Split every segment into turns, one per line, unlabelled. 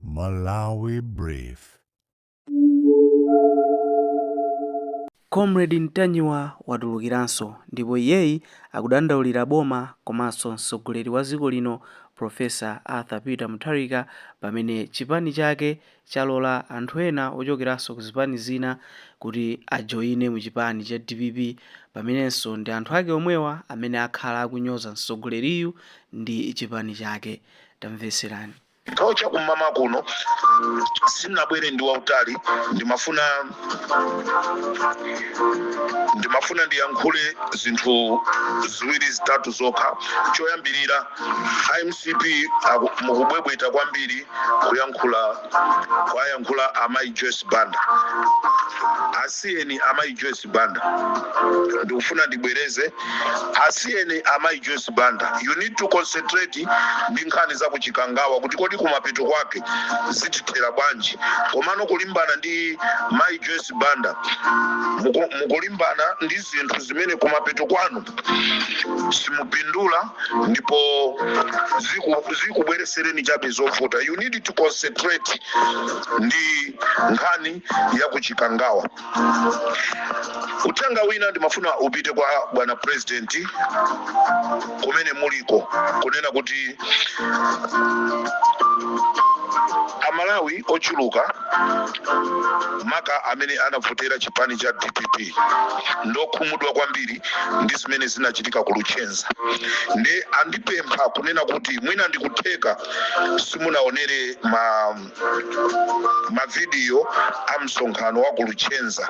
Malawi Brief.
Comrade Ntanyiwa watulukiranso ndipo iyeyi akudandaulira boma komanso mtsogoleri wa dziko lino Professor Arthur Peter Mutharika pamene chipani chake chalola anthu ena ochokeranso ku zipani zina kuti ajoyine mu chipani cha dpp pamenenso ndi anthu ake omwewa amene akhala akunyoza mtsogoleriyu ndi chipani chake. Tamvetserani. Nthawi cha
kum'mawa kuno sinabwere ndi wautali ndimafuna ndimafuna ndiyankhule zinthu ziwiri zitatu zokha choyambirira a mcp aku- mukubwebweta kwambiri kuyankhula kwayankhula amayi joyce banda asiyeni amayi joyce Banda ndikufuna ndibwereze asiyeni amayi Joyce Banda you need to concentrate ndi nkhani za kuchikangawa kuti kodi kumapeto kwake zitithera bwanji komano kulimbana ndi mayi Joyce Banda muku- mukulimbana ndi zinthu zimene kumapeto kwanu simupindula ndipo ziku- zikubweresereni chabe zovuta you need to concentrate ndi nkhani ya kuchikangawa uthenga wina ndimafuna upite kwa bwana president kumene muliko kunena kuti amalawi ochuluka maka amene anavotera chipani cha dpp ndokhumudwa kwambiri ndi zimene zinachitika ku luchenza ndiye andipempha kunena kuti mwina ndikutheka simunaonere ma mavidiyo a msonkhano wa ku luchenza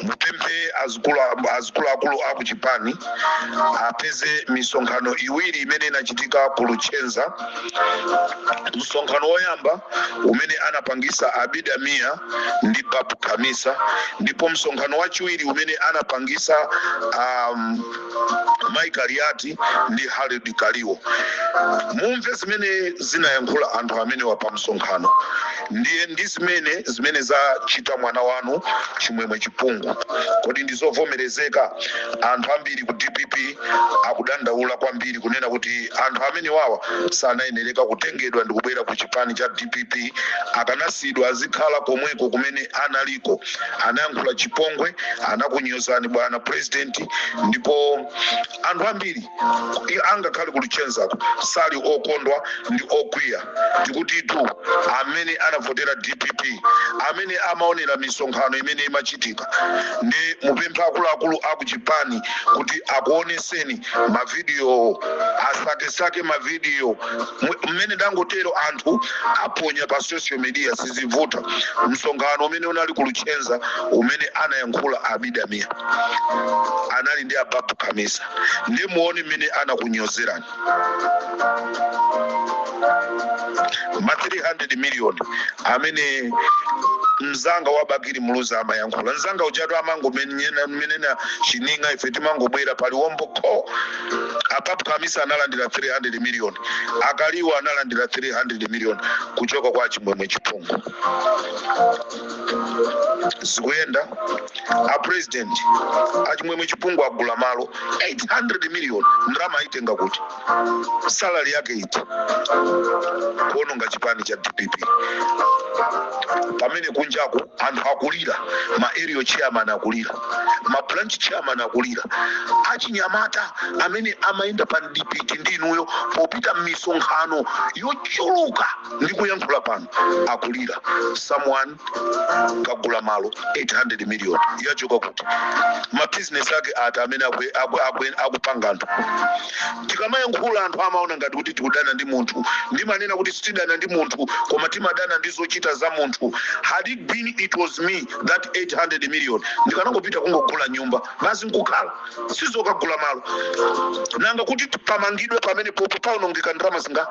mupemphe azikulu- azikuluakulu a ku chipani apeze misonkhano iwiri imene inachitika ku luchenza msonkhano woyamba umene anapangisa abida mia ndi babu khamisa ndipo msonkhano wachiwiri umene anapangisa um, Mai Kaliati ndi Harold Kaliwo, mumve zimene zinayankhula anthu amenewa pa msonkhano ndiye ndi zimene zimene zachita mwana wanu Chimwemwe Chipungu. Kodi ndi zovomerezeka? Anthu ambiri ku dpp akudandaula kwambiri kunena kuti anthu amenewawa sanayenereka kutengedwa ndikubwera ku chipani cha dpp, akanasiyidwa azikhala komweko kumene analiko. anayankhula chipongwe anakunyozani bwana president ndipo anthu ambiri i- angakhale ku luchenzako sali okondwa ndi okwiya tikuti tu amene anavotera dpp amene amaonera misonkhano imene imachitika ndiye mupemphe akuluakulu akuchipani kuti akuoneseni mavidiyo asakesake mavidiyo mmene ndangotero anthu aponya pa social media sizivuta msonkhano umene unali ku luchenza umene anayankhula abida mia anali ndi a babu khamisa ndi muone mmene anakunyozerani ma 300 million amene mzanga wa bakili muluzi amayankhula mzanga ujatu amangomenena menena chining'a ife timangobwera paliwombo kho a babu khamisa analandira 300 million akaliwa analandira 300 million kuchoka kwa achimwemwe chipungu zikuyenda a president achimwemwe chipungu agula malo 800 million ndalama ayitenga kuti salary yake iti kuononga chipani cha dpp pamene kunjaku anthu akulira ma area chairman akulira ma branch chairman akulira achinyamata amene amayenda pa mdipiti ndi inuyo popita m'misonkhano yochuluka ndi kuyankhula pano akulira someone kagula malo 800 million yachoka kuti mabizinesi ake ati amene akupanga anthu tikamayankhula anthu amaona ngati kuti tikudana ndi munthu ndimanena kuti sitidana ndi munthu koma timadana ndi zochita za munthu had it been it was me that 800 million ndikanangopita kungogula nyumba basi nkukhala sizokagula malo nanga kuti pamangidwe pamene popo paonongeka ndalama zinga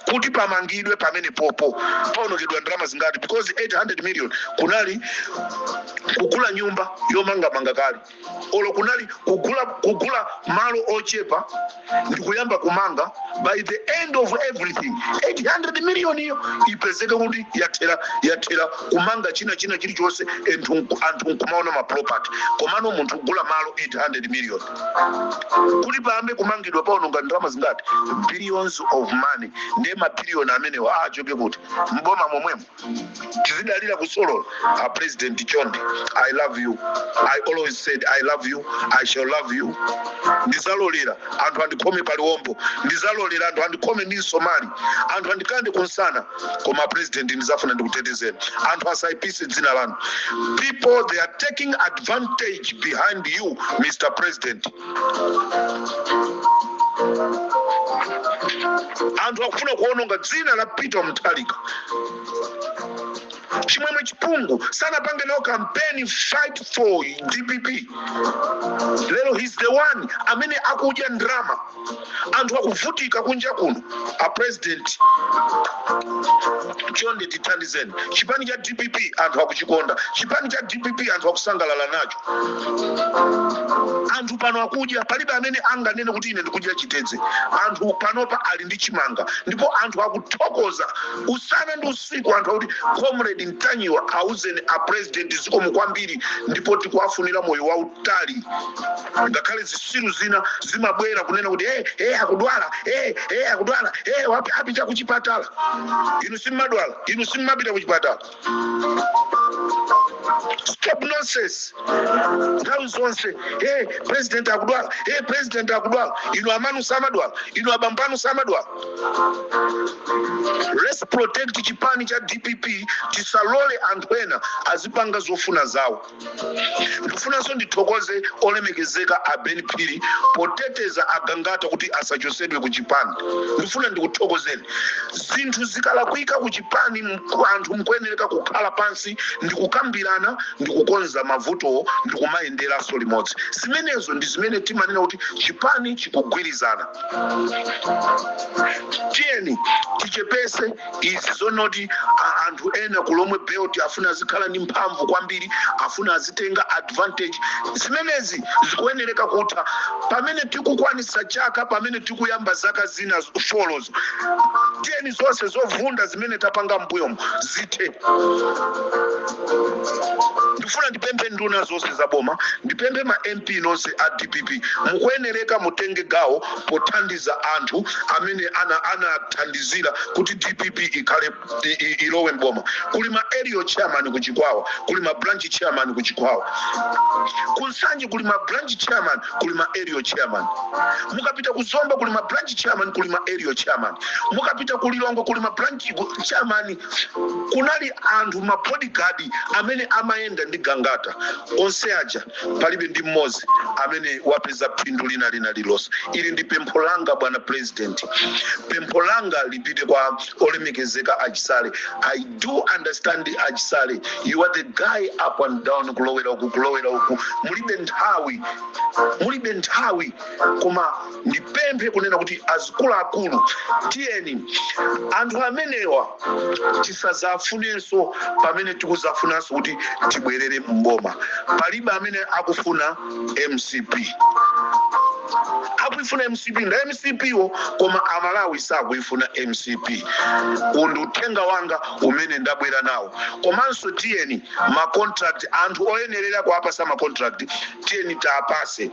kuti pamangidwe pamene popo paonongedwa ndalama zingati because 800 million kunali kugula nyumba yomangamanga kale olo kunali kugula malo ochepa ndi kuyamba kumanga by the end of everything 800 million iyo ipezeke kuti yathera yathera kumanga china china chilichonse anthu nkumaona maproperty komano munthu kugula malo 800 million kuti payambe kumangidwa paononga ndalama zingati billions of money ndiye mabiliyoni amenewa achoke kuti mboma momwemo tizidalira kusolola a president chonde i love you i always said i love you i shall love you ndizalolera anthu andikhome paliwombo ndizalolera anthu andikhome ndi msomali anthu andikande kumsana koma president ndizafuna ndikutetezeni anthu asaipise dzina lanu people they are taking advantage behind you mr president anthu akufuna kuononga dzina la peter mutharika chimwemwe chipungu sanapange nawo kampeni fight for dpp lero he's the one amene akudya ndrama anthu akuvutika kunja kuno a president chonde tithandizeni chipani cha dpp anthu akuchikonda chipani cha dpp anthu akusangalala nacho anthu pano akudya palibe amene anganene kuti ine ndikudya chitedze anthu panopa ali ndi chimanga ndipo anthu akuthokoza usana ndi usiku anthu akuti comrade mtanyiwa auzeni a president zikomo kwambiri ndipo tikuwafunira moyo wau tali ngakhale zisiru zina zimabwera kunena kuti hey, hey, akudwala hey, hey, akudwala hey, apa apita kuchipatala inu simmadwala inu simmapita kuchipatala stop nonsense nthawi zonse hey, president akudwala hey, president akudwala inu amanu samadwala inu abambanu samadwala let's protect chipani cha dpp tisalole anthu ena azipanga zofuna zawo ndikufunanso ndithokoze olemekezeka a ben phiri poteteza agangata kuti asachosedwe ku chipani ndifuna ndikuthokozeni zinthu zikalakwika ku chipani mku- anthu mkuyenereka kukhala pansi ndikukambirana ndikukonza mavutowo ndikumayenderanso limodzi zimenezo ndi zimene timanena kuti chipani chikugwirizana tiyeni tichepese izi zonoti a- anthu ena ku lomwe belt afuna azikhala ndi mphamvu kwambiri afuna azitenga advantage zimenezi zikuyenereka kutha pamene tikukwanisa chaka pamene tikuyamba zaka zina z- four zo tiyeni zonse zovunda zimene tapanga mbuyomo zithe ndifuna ndipemphe nduna zonse za boma ndipemphe ma mp nonse a dpp mukuyenereka mutenge gawo pothandiza anthu amene ana- anathandizira kuti dpp ikhale i- i- ilowe mboma kuli ma area chairman ku chikwawa kuli ma branch chairman ku chikwawa ku nsanje kuli ma branch chairman kuli ma area chairman mukapita ku zomba kuli ma branch chairman kuli ma area chairman mukapita ku lilongwe kuli ma branch ku- chairman kunali anthu ma bodyguard amene amayenda ndi gangata onse aja palibe ndi mmodzi amene wapeza phindu lina lina lilonse ili ndi pempho langa bwana president pempho langa lipite kwa olemekezeka achisale i do understand achisale you are the guy up and down kulowera uku kulowera uku mulibe nthawi mulibe nthawi koma ndipemphe kunena kuti azikuluakulu tiyeni anthu amenewa tisazawafunenso pamene tikuzafunanso kuti tibwerere mboma palibe amene akufuna mcp akuifuna mcp nda mcp wo koma amalawi sakuifuna mcp uwu ndi uthenga wanga umene ndabwera nawo komanso tiyeni macontract anthu oyenerera kuapasa macontract tiyeni tawapatse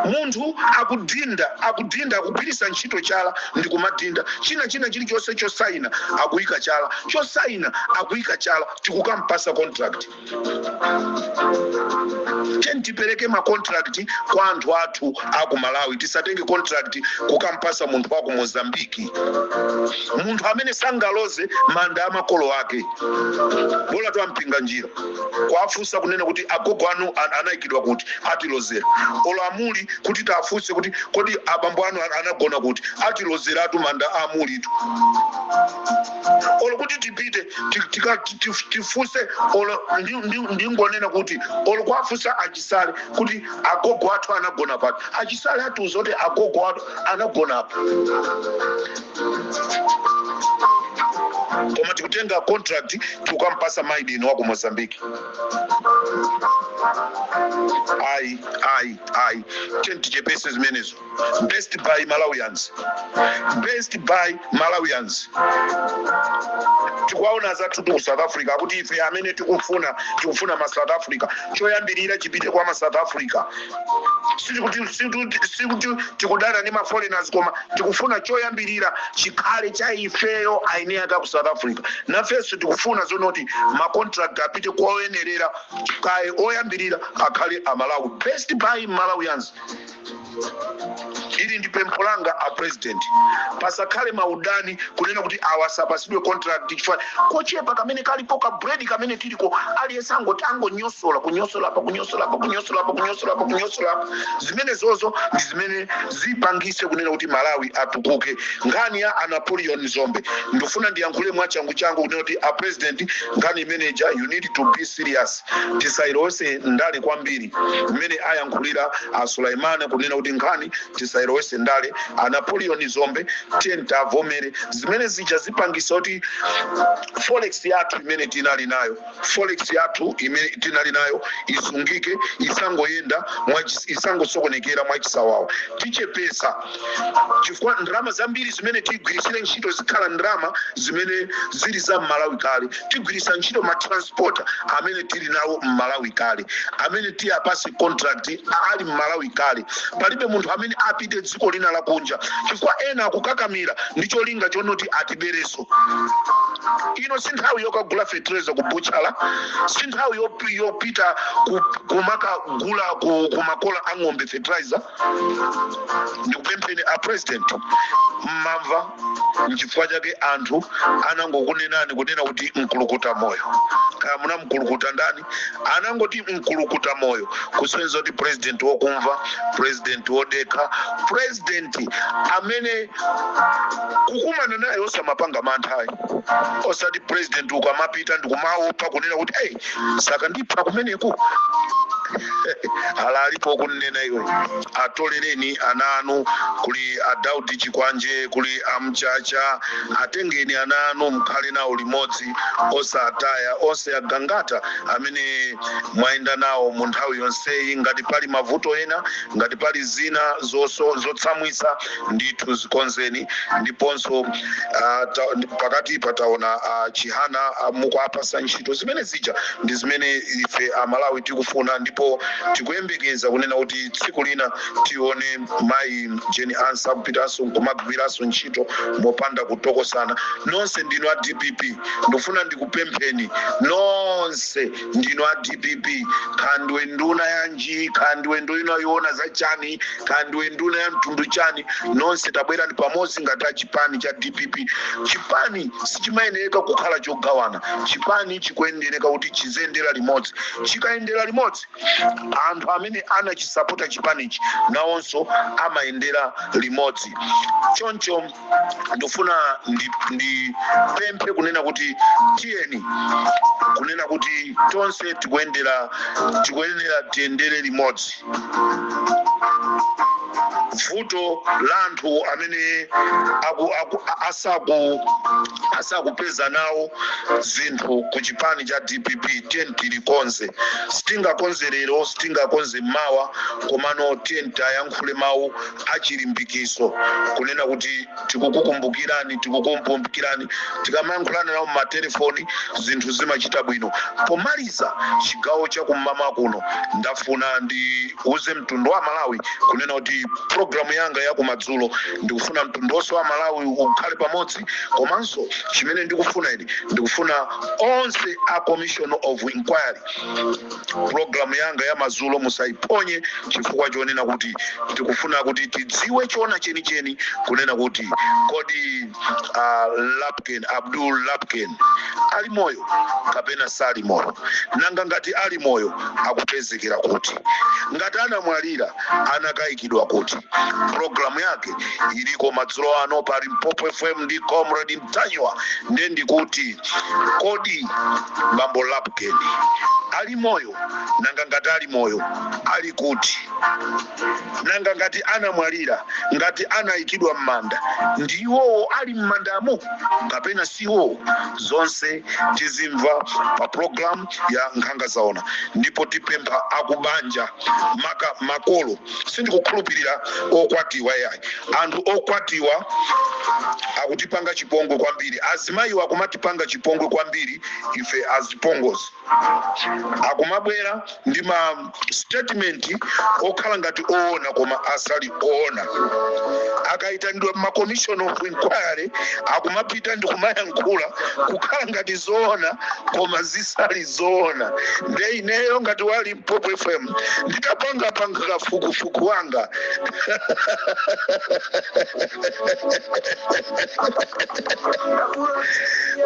munthu akudinda akudinda akugwiritsa ntchito chala ndi kumadinda china china chilichonse chosaina akuyika chala chosaina akuyika chala tikukampatsa contract tiyeni tipereke ma contract kwa anthu athu aku malawi tisatenge contract kukampatsa munthu waku mozambiki munthu amene sangaloze manda a makolo ake bola twampinga njira kuwafunsa kunena kuti agogo anu an- anaikidwa kuti atilozera olo a Muli kuti tafunse kuti kodi abambo anu an- anagona kuti atilozeratu manda a a Mulitu olo kuti tipite ti- tika- ti- ti- tifunse olo ndi- ndi- ndingonena kuti olo kuwafunsa a Chisale kuti agogo athu anagona pati a Chisale atiuza kuti agogo athu anagona apa koma tikutenga contract tikukampatsa mai dini wa ku mozambique ayi ayi ayi tiyeni tichepese zimenezo best buy malawians best buy malawians tikuwaona anzathu ku south africa akuti ife amene tikufuna tikufuna ma south africa choyambirira chipite kwa ma south africa sikuti sikuti- sikuti tikudana ndi maforeigners koma tikufuna choyambirira chikhale cha ifeyo a eni ake a ku south africa nafenso tikufuna zonoti macontract apite kwa oyenerera kaye oyambirira akhale amalawi best buy malawians ili ndi pempho langa a president pasakhale maudani kunena kuti awa sapatsidwe contract chifukwa kochepa kamene kalipo ka bread kamene tiliko aliyense angoti angonyosola kunyosola apa kunyosola apa kunyosola apa kunyosola apa kunyosola apa zimenezozo ndi zimene zipangitse kunena kuti malawi atukuke nkhani ya a napoleon dzombe ndifuna ndiyankhule mwachangu changu kunena kuti a president nkhani imeneja you need to be serious tisailowetse ndale kwambiri mmene ayankhulira a sulaimana kunena kuti nkhani tisailowetse ndale a napoleon dzombe tiyeni tiwavomere zimene zija zipangitsa kuti forex yathu imene tinali nayo forex yathu imene tinali nayo isungike isangoyenda mwachi- isangosokonekera mwachisawawa tichepetsa chifukwa ndalama zambiri zimene tigwiritsire ntchito zikhala ndalama zimene zili za m'malawi kale tigwiritsa ntchito ma transporter amene tili nawo m'malawi kale amene tiwapatse contract a- ali m'malawi kale palibe munthu amene apite dziko lina lakunja chifukwa ena akukakamira ndi cholinga chonoti atiberenso ino si nthawi yokagula fetereza ku buchala si nthawi yop- yopita ku- kumakagula ku, ku makola a ng'ombe fetereza ndikupempheni a president mumamva Nchifukwa chake anthu anangokunenani kunena kuti mkulukuta moyo. Kaya munamukulukuta ndani? Anangoti mkulukuta moyo kusonyeza kuti president wokumva, president wodekha, president amene kukumana naye osamapanga mantha ayi. Osati president ukamapita ndikumaopa kunena kuti hey, sakandipha kumeneku. Ana alipo kunena iwe atolereni ana anu kuli a Daudi Chikwanje kuli a Mchacha atengeni ana anu mkhale nawo limodzi osataya onse agang'ata amene mwayenda nawo mu nthawi yonseyi ngati pali mavuto ena ngati pali zina zotsamwitsa ndithu zikonzeni ndiponso uh, ta, pakati pataona a Chihana uh, mukuwapatsa ntchito zimene zija ndi zimene ife amalawi tikufuna ndipo tikuyembekeza kunena kuti tsiku lina tione mayi Jane Ansah kupitanso kumagwiranso ntchito mopanda kutokosana nonse ndinu a dpp ndikufuna ndikupempheni nonse ndinu a dpp kaya ndiwe nduna yanji kaya ndiwe nduna yoona za chani kaya ndiwe nduna ya mtundu chani nonse tabwerani pamodzi ngati a chipani cha dpp chipani sichimayenereka kukhala chogawana chipani chikuyenereka kuti chiziyendera limodzi chikayendera limodzi anthu amene anachisapota chipanichi nawonso amayendera limodzi choncho ndikufuna ndipemphe kunena kuti tiyeni kunena kuti tonse tikuyendera tikuyenera tiyendere limodzi vuto la anthu amene aku, aku, asaku asakupeza nawo zinthu ku chipani cha dpp tiyeni tilikonze sitingakonze lero sitingakonze mawa komano tiyeni tiwayankhule mawu achilimbikitso kunena kuti tikukukumbukirani tikukukumbukirani tikamayankhulana nawo mmatelefoni zinthu zimachita bwino pomaliza chigawo chakum'mama kuno ndafuna ndiuze mtundu wa malawi kunena kuti programu yanga yakumadzulo ndikufuna mtundu wonse wa malawi ukhale pamodzi komanso chimene ndikufuna ine ndikufuna onse a commission of inquiry Pulogalamu yanga ya madzulo musaiphonye chifukwa chonena kuti tikufuna kuti tidziwe choona chenicheni kunena kuti kodi a Lapken, Abdul Lapken ali moyo kapena sali moyo, nanga ngati ali moyo akupezekera kuti, ngati anamwalira anakayikidwa kuti. Pulogalamu yake iliko madzulo ano pa Limpopo FM ndi Comrade Ntanyiwa, nde ndikuti Kodi bambo Lapken ali moyo? Nanga ngati ali moyo, ali kuti? Nanga ngati anamwalira, ngati anaikidwa m'manda, ndi iwo ali m'mandamo kapena si iwo? Zonse tizimva pa pulogalamu ya Nkhanga Zaona, ndipo tipempha akubanja, maka makolo, sindikukhulupirira okwatiwa yayi anthu okwatiwa akutipanga chipongwe kwambiri azimayiwa akumatipanga chipongwe kwambiri ife azipongozi akumabwera ndi ma statement okhala ngati oona koma asali oona akayitanidwa ma commission of inquiry akumapita ndi kumayankhula kukhala ngati zoona koma zisali zoona nde ineyo ngati wa Lim Popo FM nditapanga kafukufuku wanga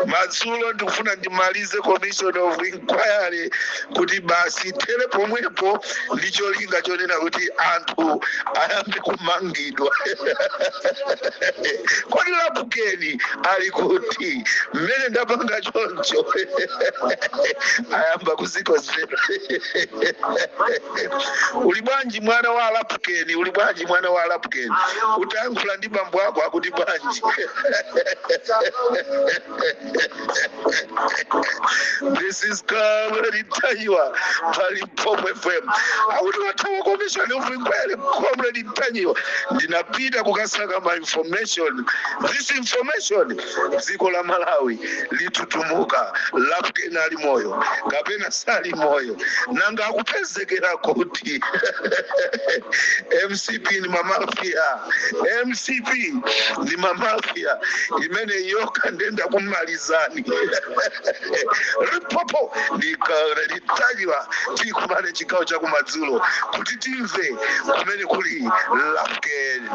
madzulo ndikufuna ndimalize commission of inquiry kuti basi ithere pomwepo ndi cholinga chonena kuti anthu ayambe kumangidwa kodi Lapken ali kuti mmene ndapanga choncho ayamba zikozera uli bwanji mwana wa alapukeni uli bwanji mwana wa alapukeni utayankhula ndi bambo wako akuti bwanji this is Comrade Ntanyiwa pa Limpopo FM akuti wathawa commission of inquiry comrade ntanyiwa ndinapita kukasaka ma information this information dziko la malawi litutumuka lapkeni ali moyo kapena sali moyo nanga akupezekera kuti mcp ni mamafia mcp ni mamafia imeneyo nde ndakumalizani Limpopo Comrade Ntanyiwa tikumane chigawo chakumadzulo kuti timve kumene kuli lapkeni